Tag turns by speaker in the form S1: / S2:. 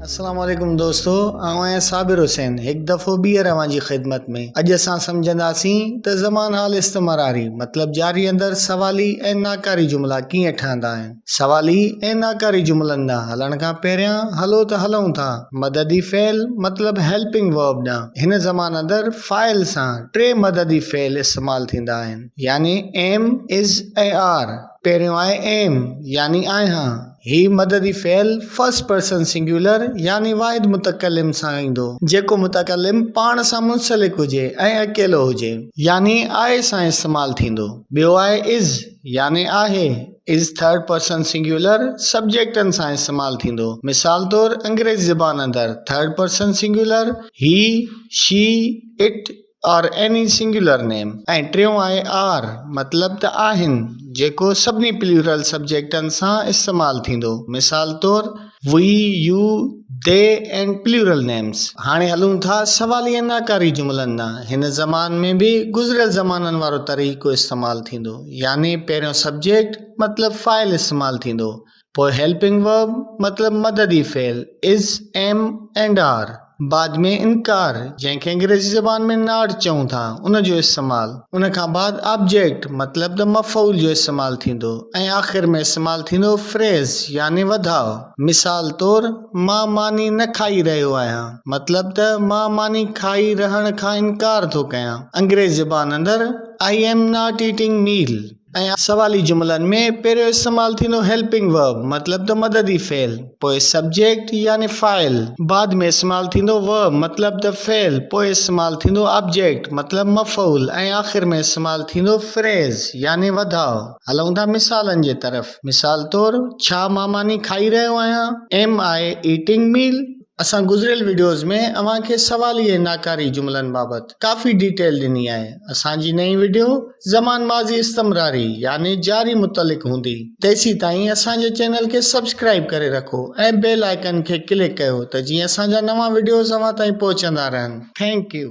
S1: السلام عليڪم دوستو آئون آهيان صابر حسين هڪ دفعو ٻيهر اوهان جي خدمت ۾ اڄ اسان سمجهنداسين ته زمان حال استمراري مطلب جاري اندر سوالي ۽ ناڪاري جملا ڪيئن ٺهندا آهن سوالي ۽ ناڪاري جملن ڏانهن هلڻ کان پهريان هلو ته هلون ٿا مددي فعل مطلب Helping Verb ڏانهن. هن زمان اندر فاعل سان ٽي مددي فعل استعمال ٿيندا آهن يعني Am، Is ۽ Are. پهريون آهي Am يعني آهيان. هي مددي فعل First Person Singular يعني واحد متڪلم سان ايندو جيڪو متڪلم پاڻ سان منسلڪ هجي ۽ اڪيلو هجي يعني آء سان استعمال ٿيندو. ٻيو آهي Is يعني آهي. از ٿرڊ پرسن سنگيولر سبجيڪٽن سان استعمال ٿيندو. مثال طور انگريزي زبان اندر third person singular he, she, it اور ايني سنگيولر نيم ۽ ٽيون آهي آر مطلب ته آهن جيڪو سڀني پليورل سبجيڪٽن سان استعمال ٿيندو. مثال طور. We you they and plural names هاڻي هلون ٿا سوالي ۽ ناڪاري جملن ڏانهن. هن زمان ۾ به گذريل زمانن وارو طريقو استعمال ٿيندو، يعني پهريون سبجيڪٽ مطلب فاعل استعمال ٿيندو، پوء هيلپنگ ورب مطلب مددي فعل، از، ايم، اينڊ آر. بعد ۾ انڪار، جنهن کي انگريزي زبان ۾ Not چئون ٿا، ان جو استعمال، ان کان بعد آبجيڪٽ مطلب ته مفعول جو استعمال ٿيندو ۽ آخر ۾ استعمال ٿيندو فريز يعني وڌاء. مثال طور، مان ماني نه کائي رهيو آهيان مطلب ته مان ماني کائي رهڻ کان انڪار ٿو ڪيان، انگريزي زبان اندر I am not eating meal. ۽ سوالي جملن ۾ پهريون استعمال ٿيندو هيلپنگ ورب مطلب ته مددي فعل پوء سبجيڪٽ يعني فاعل بعد ۾ استعمال ٿيندو ورب مطلب ته فعل پوء استعمال ٿيندو آبجيڪٽ مطلب مفعول ۽ آخر ۾ استعمال ٿيندو فريز يعني وڌاء هلون ٿا مثالن جي طرف مثال طور ڇا مان ماني کائي رهيو آهيان Am I eating meal؟ اسان گذريل وڊيوز ۾ اوهان کي سوالي ۽ ناڪاري جملن بابت ڪافي ڊيٽيل ڏني آهي اسان جي نئين وڊيو زمان ماضي استمراري يعني جاري متعلق هوندي تيسيتائين اسان جي چينل کي سبسڪرائب ڪري رکو ۽ بيل آئيڪن کي ڪلڪ ڪيو ته جيئن اسان جا نوان وڊيوز اوهان تائين پهچندا رهن ٿينڪ يو.